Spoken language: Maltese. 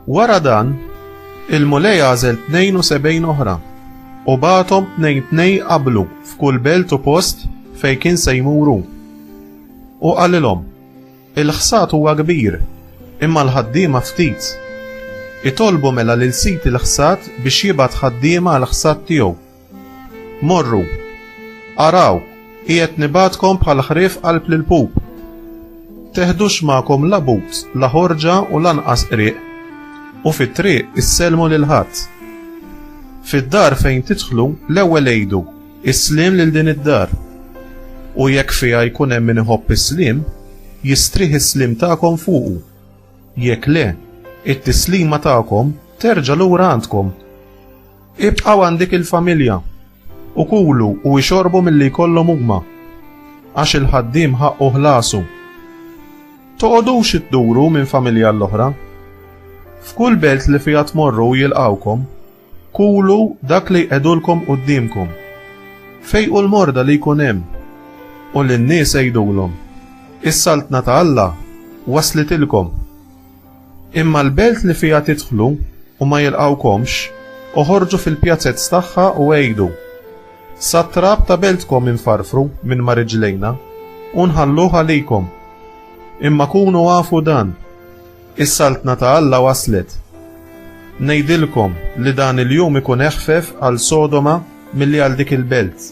Wara dan, il-Mulej għażel 72 oħra u bagħathom tnejn tnej qablu f'kull belt u post fejn kien se jmuru. U qalilhom, il-ħsad huwa kbir, imma l-ħaddiema ftit. Itolbu mela lil sid il-ħsad biex jibgħat ħaddiema għal ħsad tiegħu. Morru! Araw, qiegħed nibgħatkom bħal ħrief qalb l-pup. Teħdux magħkom la but, la ħorġa u lanqas qrieq, u fit-triq issellmu lil ħadd. Fid-dar fejn tidħlu, l-ewwel għidu, Is-sliem lil din id-dar. U jekk fiha jkun hemm min iħobb is-sliem, jistrieħ is-sliem tagħkom fuqu. Jekk le, it-tislima tagħkom terġa' lura għandkom. Ibqgħu għand dik il-familja, u kulu u ixorbu milli jkollhom huma, għax il-ħaddiem ħaqqu ħlasu. Toqgħodux idduru minn familja għall-oħra. F'kull belt li fiha tmorru u jilqgħukom, kulu dak li jqegħdulkom quddiemkom. Fejqu l-morda li jkun hemm, u lin-nies għidulhom, Is-saltna ta' Alla waslitilkom. Imma l-belt li fiha tidħlu u ma jilqgħukomx, oħorġu fil-pjazez tagħha u għidu, Sat-trab ta' beltkom infarfru minn ma' riġlejna u nħalluh għalikom. Imma kunu afu dan, Is-Saltna ta' Alla waslet. Ngħidilkom li dan il-jum ikun eħfef għal Sodoma milli għal dik il-belt.